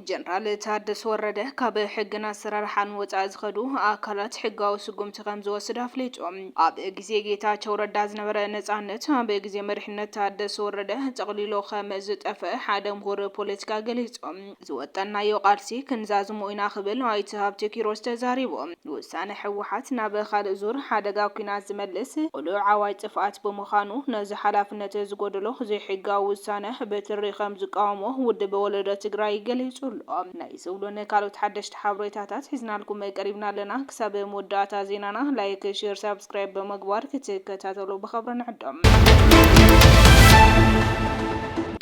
ጀነራል ታደሰ ወረደ ካብ ሕግን ኣሰራርሓን ወፃኢ ዝኸዱ ኣካላት ሕጋዊ ስጉምቲ ከም ዝወስድ ኣፍሊጡ። ኣብ ግዜ ጌታቸው ረዳ ዝነበረ ነፃነት ኣብ ግዜ መሪሕነት ታደሰ ወረደ ጠቕሊሎ ከም ዝጠፍአ ሓደ ምሁር ፖለቲካ ገሊፆም። ዝወጠንናዮ ቃልሲ ክንዛዝሞ ኢና ክብል ኣይተ ሃብቴ ኪሮስ ተዛሪቡ። ንውሳነ ህወሓት ናብ ካልእ ዙር ሓደጋ ኲናት ዝመልስ ቅሉዕ ኣዋጅ ጥፍኣት ብምዃኑ ነዚ ሓላፍነት ዝጎደሎ ዘይሕጋዊ ውሳነ ብትሪ ከምዝቃወሞ ውድብ ወለዶ ትግራይ ገሊፁ ኣሎ። ናይ ዝብሉን ካልኦት ሓደሽቲ ሓብሬታታት ሒዝናልኩም ቀሪብና ኣለና። ክሳብ መወዳእታ ዜናና ላይክ፣ ሼር፣ ሳብስ። ሳብስክራይብ ብምግባር ክትከታተሉ ብኸብሪ ንዕዶም።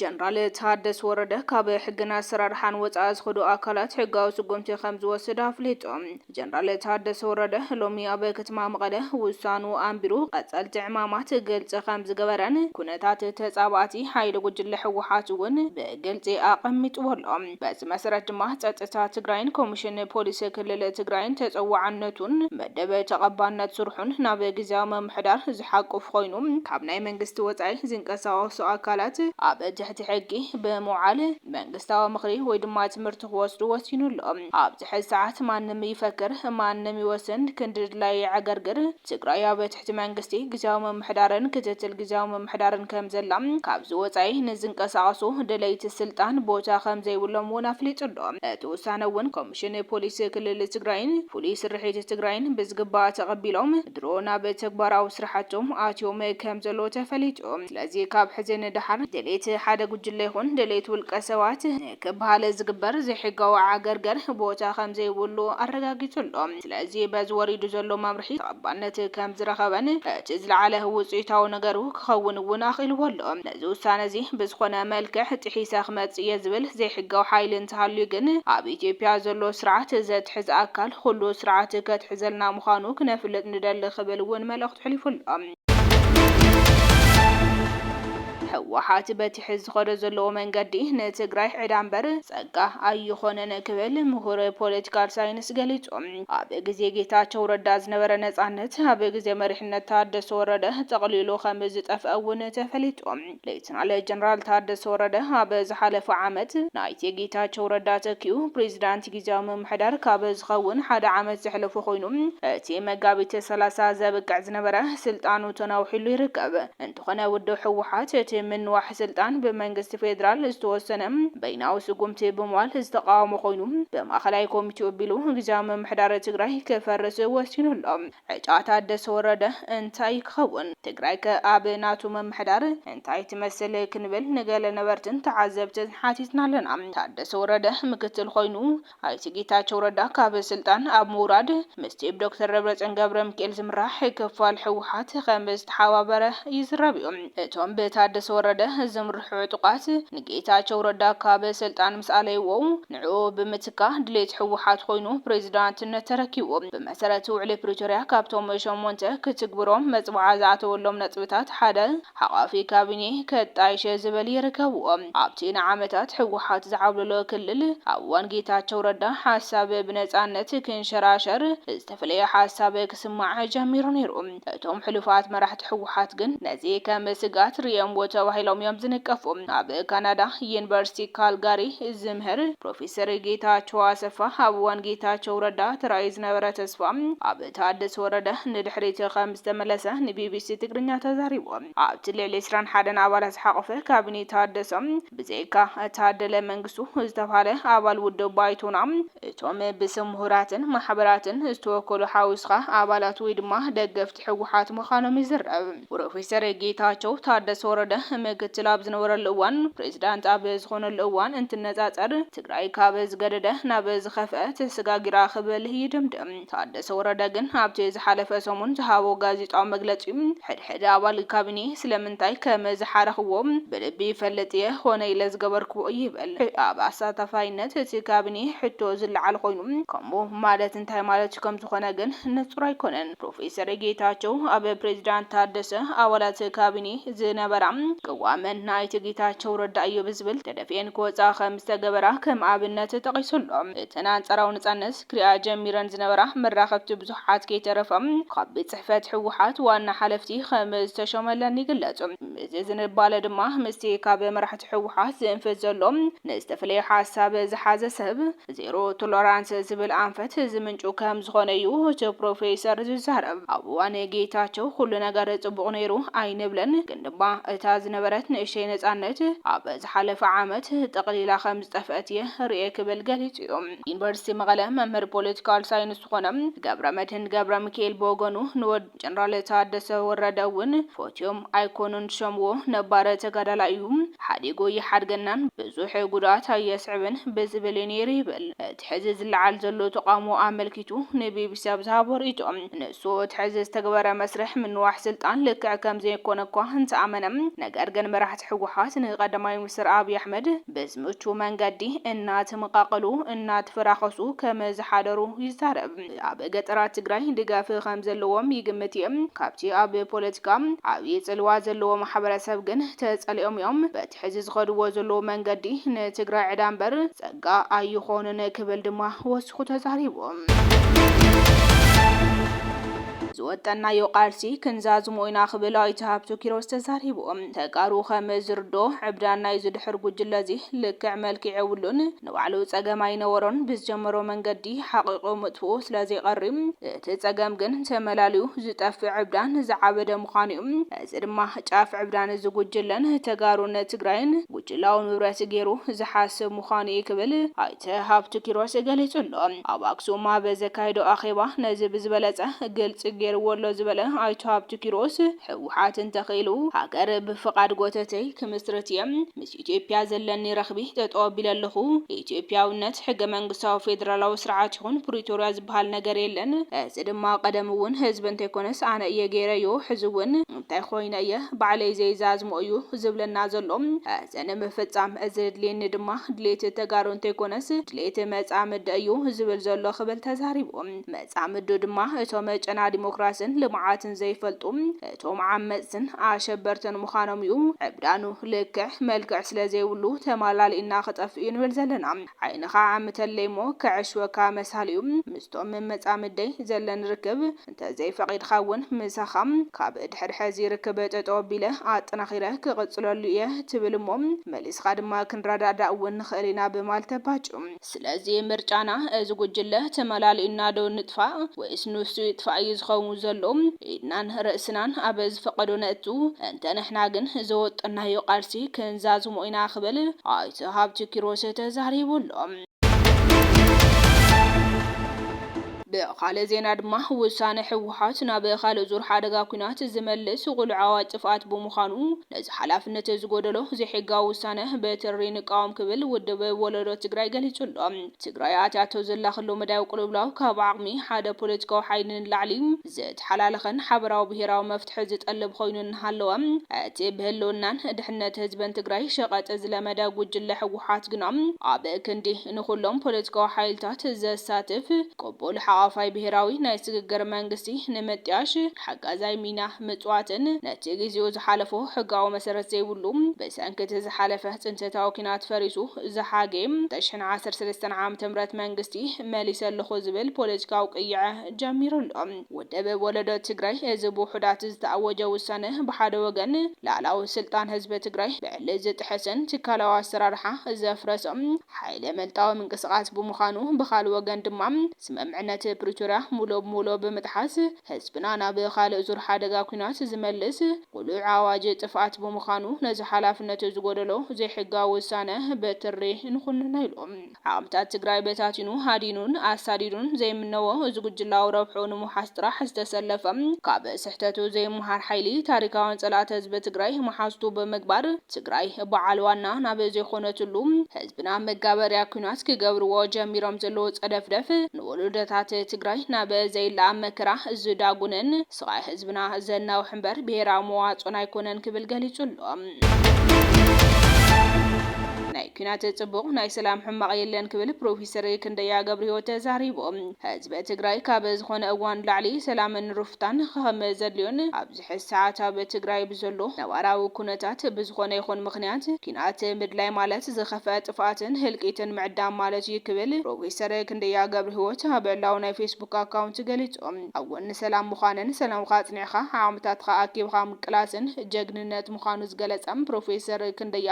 ጀነራል ታደስ ወረደ ካብ ሕግን ኣሰራርሓን ወፃኢ ዝኸዱ ኣካላት ሕጋዊ ስጉምቲ ከም ዝወስድ ኣፍሊጡ። ጀነራል ታደሰ ወረደ ሎሚ ኣብ ከተማ መቐለ ውሳኑ ኣንቢሩ ቐፀልቲ ዕማማት ግልፂ ከም ዝገበረን ኩነታት ተፃባእቲ ሓይሊ ጉጅለ ህወሓት እውን ብግልፂ ኣቐሚጥዎ ኣሎ። በዚ መሰረት ድማ ፀጥታ ትግራይን ኮሚሽን ፖሊስ ክልል ትግራይን ተፀዋዕነቱን መደብ ተቐባልነት ስርሑን ናብ ግዝያዊ ምምሕዳር ዝሓቁፍ ኾይኑ ካብ ናይ መንግስቲ ወፃኢ ዝንቀሳቐሱ ኣካላት ኣብ ትሕቲ ሕጊ ብምውዓል መንግስታዊ ምኽሪ ወይ ድማ ትምህርቲ ክወስዱ ወሲኑ ኣሎ። ኣብዚ ሕዚ ሰዓት ማንም ይፈክር ማንም ይወስን ክንድድላዩ የዕገርግር ትግራይ ኣብ ትሕቲ መንግስቲ ግዝያዊ ምምሕዳርን ክትትል ግዝያዊ ምምሕዳርን ከምዘላ፣ ካብዚ ወፃኢ ንዝንቀሳቐሱ ደለይቲ ስልጣን ቦታ ከምዘይብሎም እውን ኣፍሊጡ ኣሎ። እቲ ውሳነ እውን ኮሚሽን ፖሊስ ክልል ትግራይን ፍሉይ ስርሒት ትግራይን ብዝግባእ ተቐቢሎም ድሮ ናብ ተግባራዊ ስራሕቶም ኣትዮም ከምዘለዉ ተፈሊጡ። ስለዚ ካብ ሕዚ ንደሓር ድሌት ሓደ ጉጅለ ይኹን ድሌት ውልቀ ሰባት ን። ክበሃል ዝግበር ዘይሕጋዊ ዓገርገር ቦታ ከምዘይብሉ ኣረጋጊጹ ኣሎ። ስለዚ በዚ ወሪዱ ዘሎ መምርሒ ተቐባልነት ከምዝረኸበን እቲ ዝለዓለ ውጽኢታዊ ነገሩ ክኸውን እውን ኣኽኢልዎ ኣሎ። ነዚ ውሳነ እዚ ብዝኾነ መልክዕ ጥሒሰ ክመጽእ እየ ዝብል ዘይሕጋዊ ሓይሊ እንተሃልዩ ግን ኣብ ኢትዮጵያ ዘሎ ስርዓት ዘትሕዝ ኣካል ኹሉ ስርዓት ከትሕዘልና ምዃኑ ክነፍልጥ ንደሊ ክብል እውን መልእኽቱ ኣሕሊፉ ኣሎ። ህወሓት በቲ ሕዚ ዝኸዶ ዘለዎ መንገዲ ንትግራይ ዕዳ እምበር ጸጋ ኣይኾነን ክብል ምሁር ፖለቲካል ሳይንስ ገሊጹ። ኣብ ግዜ ጌታቸው ረዳ ዝነበረ ነጻነት ኣብ ግዜ መሪሕነት ታደሰ ወረደ ጠቕሊሉ ከም ዝጠፍአ እውን ተፈሊጡ። ሌተናል ጀነራል ታደሰ ወረደ ኣብ ዝሓለፈ ዓመት ንኣይተ ጌታቸው ረዳ ተኪኡ ፕሬዚዳንት ጊዚያዊ ምምሕዳር ካብ ዝኸውን ሓደ ዓመት ዘሕለፎ ኮይኑ እቲ መጋቢት ሰላሳ ዘብቅዕ ዝነበረ ስልጣኑ ተናዊሑሉ ይርከብ። እንተኾነ ውድብ ህወሓት እቲ ምንዋሕ ስልጣን ብመንግስቲ ፌዴራል ዝተወሰነ በይናዊ ስጉምቲ ብምባል ዝተቓወሞ ኮይኑ ብማእኸላይ ኮሚቴ ኡቢሉ ጊዚያዊ ምምሕዳር ትግራይ ክፈርስ ወሲኑ ኣሎ። ዕጫ ታደሰ ወረደ እንታይ ክኸውን? ትግራይከ ኣብ ናቱ ምምሕዳር እንታይ ትመስል? ክንብል ንገለ ነበርትን ተዓዘብትን ሓቲትና ኣለና። ታደሰ ወረደ ምክትል ኮይኑ ኣይተ ጌታቸው ረዳ ካብ ስልጣን ኣብ ምውራድ ምስቲ ብዶክተር ደብረፅዮን ገብረሚካኤል ዝምራሕ ክፋል ህወሓት ከምዝተሓባበረ ይዝረብ'ዩ። እቶም ብታደሰ ወረደ ዝምርሑ ዕጡቓት ንጌታቸው ረዳ ካብ ስልጣን ምስ ኣለይዎ ንዕኡ ብምትካእ ድሌት ህወሓት ኾይኑ ፕሬዚዳንትነት ተረኪቡ። ብመሰረት ውዕሊ ፕሪቶሪያ ካብቶም ሸሞንተ ክትግብሮም መፅብዓ ዝኣተወሎም ነጥብታት ሓደ ሓቛፊ ካቢኔ ከጣይሸ ዝበል ይርከብዎም። ኣብቲ ንዓመታት ህወሓት ዝዓብለሎ ክልል ኣብ እዋን ጌታቸው ረዳ ሓሳብ ብነፃነት ክንሸራሸር ዝተፈለየ ሓሳብ ክስማዕ ጀሚሩ ነይሩ። እቶም ሕሉፋት መራሕቲ ህወሓት ግን ነዚ ከም ስግኣት ርእዮምዎ ተባሂሎም እዮም ዝንቀፉ። ኣብ ካናዳ ዩኒቨርሲቲ ካልጋሪ ዝምህር ፕሮፌሰር ጌታቸው ኣሰፋ ኣብ እዋን ጌታቸው ረዳ ተራእዩ ዝነበረ ተስፋ ኣብ ታደሰ ወረደ ንድሕሪት ከም ዝተመለሰ ንቢቢሲ ትግርኛ ተዛሪቡ። ኣብቲ ልዕሊ ዕስራን ሓደን ኣባላት ዝሓቖፈ ካቢኔ ታደሰ ብዘይካ ታደለ መንግስቱ ዝተብሃለ ኣባል ውድብ ባይቶና እቶም ብስም ምሁራትን ማሕበራትን ዝተወከሉ ሓዊስኻ ኣባላት ወይ ድማ ደገፍቲ ህወሓት ምዃኖም ይዝረብ። ፕሮፌሰር ጌታቸው ታደሰ ወረደ ምክትል ኣብ ዝነበረሉ እዋን ፕሬዚዳንት ኣብ ዝኾነሉ እዋን እንትነፃፀር ትግራይ ካብ ዝገደደ ናብ ዝኸፍኣ ተሰጋጊራ ክብል ይድምድም። ታደሰ ወረደ ግን ኣብቲ ዝሓለፈ ሰሙን ዝሃቦ ጋዜጣዊ መግለጺ፣ ሕድሕድ ኣባል ካቢኔ ስለምንታይ ከምዝሓረኽዎ ብልቢ ይፈልጥ እየ፣ ኮነ ኢለ ዝገበርክዎ ይበል። ኣብ ኣሳታፋይነት እቲ ካቢኔ ሕቶ ዝለዓል ኮይኑ፣ ከምኡ ማለት እንታይ ማለት ከምዝኾነ ግን ንጹር ኣይኮነን። ፕሮፌሰር ጌታቸው ኣብ ፕሬዚዳንት ታደሰ ኣባላት ካቢኔ ዝነበራ ቅዋም ናይቲ ጌታቸው ረዳ እዩ ብዝብል ተደፊኤን ክወጽኣ ከምዝተገበራ ከም ኣብነት ጠቒሱ ኣሎ። እተን ኣንጻራዊ ነጻነት፣ ክሪኣ ጀሚረን ዝነበራ መራኸብቲ ብዙሓት ከይተረፈ ካብ ቤት ፅሕፈት ህወሓት ዋና ሓለፍቲ ከም ዝተሾመለን ይግለፁ። እዚ ዝንባለ ድማ ምስቲ ካብ መራሕቲ ህወሓት ዝእንፍት ዘሎ ንዝተፈለየ ሓሳብ ዝሓዘ ሰብ ዜሮ ቶለራንስ ዝብል ኣንፈት ዝምንጩ ከም ዝኾነ እዩ እቲ ፕሮፌሰር ዝዛረብ። ኣብ እዋን ጌታቸው ኹሉ ነገር ፅቡቕ ነይሩ ኣይንብልን ግን ድማ እታ ዝነበረት ንእሽተይ ነፃነት ኣብ ዝሓለፈ ዓመት ጠቕሊላ ከም ዝጠፍአት እየ ሪኤ ክብል ገሊፁ እዩ። ዩኒቨርሲቲ መቐለ መምህር ፖለቲካል ሳይንስ ዝኾነ ገብረመድህን ገብረሚካኤል ብወገኑ ንወድ ጀነራል ታደሰ ወረደ እውን ፎትዮም ኣይኮኑን ዝሸምዎ፣ ነባር ተጋዳላይ እዩ፣ ሓዲጉ ኣይሓድገናን፣ ብዙሕ ጉድኣት ኣየስዕብን ብዝብል እዩ ነይሩ ይብል እቲ ሕዚ ዝለዓል ዘሎ ተቓውሞ ኣመልኪቱ ንቢቢሲ ኣብ ዝሃቦ ርእይቶ። ሱኡት ሕዚ ዝተግበረ መስርሕ ምንዋሕ ስልጣን ልክዕ ከምዘይኮነ እኳ እንተኣመነ፣ ነገር ግን መራሕቲ ህወሓት ንቀዳማይ ሚኒስትር ኣብይ ኣሕመድ ብዝምቹ መንገዲ እናተመቓቐሉ እናተፈራኸሱ ከምዝሓደሩ ይዛረብ። ኣብ ገጠራት ትግራይ ድጋፍ ከምዘለዎም ይግምት እየ፣ ካብቲ ኣብ ፖለቲካ ዓብዪ ፅልዋ ዘለዎ ማሕበረሰብ ግን ተፀሊኦም እዮም፣ በቲ ሕዚ ዝኸድዎ ዘለዉ መንገዲ ንትግራይ ዕዳ እምበር ፀጋ ኣይኾንን ክብል ድማ ወሲኹ ተዛሪቡ። ዝወጠንናዮ ቃልሲ ክንዛዝሞ ኢና ክብል ኣይተ ሃብቱ ኪሮስ ተዛሪቡ። ተጋሩ ከም ዝርድኦ ዕብዳን ናይዚ ድሑር ጉጅለ እዚ ልክዕ መልክዕ የብሉን። ንባዕሉ ፀገም ኣይነበሮን ብዝጀመሮ መንገዲ ሓቒቑ ምጥፍኡ ስለዘይቐሪ እቲ ፀገም ግን ተመላልዩ ዝጠፍእ ዕብዳን ዝዓበደ ምዃኑ እዩ። እዚ ድማ ጫፍ ዕብዳን እዚ ጉጅለን ተጋሩን ትግራይን ጉጅላዊ ንብረት ገይሩ ዝሓስብ ምዃኑ እዩ ክብል ኣይተ ሃብቱ ኪሮስ ገሊፁ ኣሎ። ኣብ ኣክሱም ኣብ ዘካየዶ ኣኼባ ነዚ ብዝበለፀ ግልፂ ገይርዎ ኣሎ ዝበለ ኣይተ ሃብቱ ኪሮስ፣ ህወሓት እንተኽኢሉ ሃገር ብፍቓድ ጎተተይ ክምስርት እየ፣ ኢትዮጵያ ዘለኒ ረኽቢ ጠጠው ኣቢለ ኣለኹ። ኢትዮጵያዊነት፣ ሕገ መንግስታዊ ፌደራላዊ ስርዓት ይኹን ፕሪቶርያ ዝበሃል ነገር የለን። እዚ ድማ ቀደም እውን ህዝቢ እንተይኮነስ ኣነ እየ ገይረዮ፣ ሕዚ እውን እንታይ ኾይነ እየ ባዕለይ ዘይዛዝሞ እዩ ዝብለና ዘሎ። እዚ ንምፍፃም እዚ ዘድልየኒ ድማ ድሌት ተጋሩ እንተይኮነስ ድሌት መፃምዲ እዩ ዝብል ዘሎ ክብል ተዛሪቡ። መፃምዱ ድማ እቶም ጨና ዲሞክራስን ልምዓትን ዘይፈልጡ፣ እቶም ዓመጽትን ኣሸበርትን ምዃኖም'ዩ ዕብዳኑ። ልክዕ መልክዕ ስለ ዘይብሉ ተማላሊእና ክጠፍእ'ዩ ንብል ዘለና። ዓይንኻ ዓምተለይ'ሞ ከዐሽወካ መሳሊ'ዩ። ምስቶም መጻምደይ ዘለኒ ርክብ እንተዘይፈቒድካ'ውን ምሳኻ ካብ ድሕሪ ሕዚ ርክብ ጠጠው ኣቢለ ኣጠናኺረ ክቕጽለሉ'የ ትብል'ሞ መሊስኻ ድማ ክንረዳዳእ'ውን ንኽእል ኢና ብማልት ተባጩ። ስለዚ ምርጫና እዚ ጉጅለ ተመላሊኡና ዶ ንጥፋእ ወይስ ንሱ ይጥፋእ እዩ ዝኸውን ዘሎ ኢድናን ርእስናን ኣብ ዝፈቐዶ ነእቱ፣ እንተ ንሕና ግን ዘወጠናዮ ቃልሲ ክንዛዝሞ ኢና ክብል ኣይተ ሃብቲ ኪሮስ ተዛሪቡ ኣሎ። ብኻልእ ዜና ድማ ውሳነ ህወሓት ናብ ካልእ ዙር ሓደጋ ኲናት ዝመልስ ቑልዓዊ ጥፍኣት ብምዃኑ ነዚ ሓላፍነት ዝጎደሎ ዘይሕጋዊ ውሳነ ብትሪ ንቃወም ክብል ውድብ ወለዶ ትግራይ ገሊፁ ኣሎ። ትግራይ ኣትያቶ ዘላ ክሉ መዳያዊ ቅልውላው ካብ ዓቕሚ ሓደ ፖለቲካዊ ሓይሊ ንላዕሊ ዝተሓላለኸን ሓበራዊ ብሄራዊ መፍትሒ ዝጠልብ ኾይኑ እናሃለወ እቲ ብህልውናን ድሕነት ህዝብን ትግራይ ሸቐጥ ዝለመደ ጉጅለ ህወሓት ግና ኣብ ክንዲ ንኹሎም ፖለቲካዊ ሓይልታት ዘሳትፍ ቅቡል ሓቛፋይ ብሄራዊ ናይ ስግግር መንግስቲ ንምጥያሽ ሓጋዛይ ሚና ምጽዋትን ነቲ ግዜኡ ዝሓለፎ ሕጋዊ መሰረት ዘይብሉ ብሰንኪ እቲ ዝሓለፈ ጽንተታዊ ኲናት ፈሪሱ ዝሓጌ ተሽሕን ዓሰርተ ሰለስተን ዓመተ ምህረት መንግስቲ መሊሰ ኣለኹ ዝብል ፖለቲካዊ ቅይዐ ጀሚሩ ኣሎ። ውድብ ወለዶ ትግራይ እዚ ብውሑዳት ዝተኣወጀ ውሳነ ብሓደ ወገን ልኣላዊ ስልጣን ህዝቢ ትግራይ ብዕሊ ዝጥሕስን ትካላዊ ኣሰራርሓ ዘፍረሰ ሓይለ መልጣዊ ምንቅስቓስ ብምዃኑ ብኻልእ ወገን ድማ ስምምዕነት ፕሪቶርያ ሙሉእ ብሙሉእ ብምጥሓስ ህዝብና ናብ ካልእ ዙር ሓደጋ ኲናት ዝመልስ ጉሉዕ ኣዋጅ ጥፍኣት ብምዃኑ ነዚ ሓላፍነት ዝጎደሎ ዘይሕጋዊ ውሳነ ብትሪ ንኹንኖ ኢሉ ዓቕምታት ትግራይ በታቲኑ ሃዲኑን ኣሳዲዱን ዘይምነዎ እዚ ጉጅላዊ ረብሕኡ ንምውሓስ ጥራሕ ዝተሰለፈ ካብ ስሕተቱ ዘይመሃር ሓይሊ ታሪካውያን ፀላእቲ ህዝቢ ትግራይ መሓዝቱ ብምግባር ትግራይ በዓል ዋና ናብ ዘይኾነትሉ ናብ መጋበርያ ኩናት ክገብርዎ ጀሚሮም ዘለዉ ጸደፍደፍ ንወሎዶታት ትግራይ ናብ ዘይለኣም መከራ ዝዳጉንን ስቓይ ህዝብና ዘናውሕ እምበር ብሄራዊ መዋጽኦን ኣይኮነን ክብል ገሊጹ ኣሎ። ናይ ኩናት ጽቡቕ ናይ ሰላም ሕማቕ የለን ክብል ፕሮፊሰር ክንደያ ገብርሂወት ተዛሪቡ። ህዝቢ ትግራይ ካብ ዝኾነ እዋን ንላዕሊ ሰላምን ሩፍታን ኸም ዘድልዮን ኣብ ሕዚ ሰዓት ኣብ ትግራይ ብዘሎ ነባራዊ ኩነታት ብዝኾነ ይኹን ምኽንያት ኲናት ምድላይ ማለት ዝኸፍኣ ጥፍኣትን ህልቂትን ምዕዳም ማለት እዩ ክብል ፕሮፌሰር ክንደያ ገብረሂወት ኣብ ዕላዊ ናይ ፌስቡክ ኣካውንት ገሊፁ። ኣብ ጎኒ ሰላም ምዃንን ሰላምኻ ኣፅኒዕኻ ዓቕምታትኻ ኣኪብኻ ምቅላስን ጀግንነት ምዃኑ ዝገለፀ ፕሮፌሰር ክንደያ፣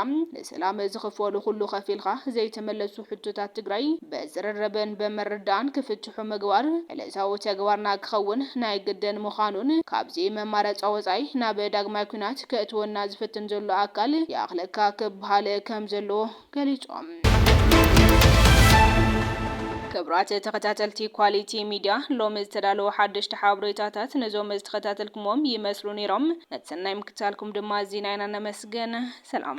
ሰላም ዝኽፈሉ ኩሉ ከፊልኻ ዘይተመለሱ ሕቶታት ትግራይ ብዝርርብን ብምርድዳእን ክፍትሑ ምግባር ዕለታዊ ተግባርና ክኸውን ናይ ግድን ምዃኑን ካብዚ መማረፃ ወፃኢ ናብ ዳግማይ ኲናት ከእትወና ዝፍትን ዘሎ ኣካል ይኣኽለካ ክበሃል ከም ዘለዎ ገሊፆም። ክብራት ተኸታተልቲ ኳሊቲ ሚድያ ሎሚ ዝተዳለዉ ሓደሽቲ ሓብሬታታት ነዞም ዝተኸታተልኩምዎም ይመስሉ ነይሮም ነቲ ሰናይ ምክትታልኩም ድማ እዚ ናይና ነመስግን ሰላም።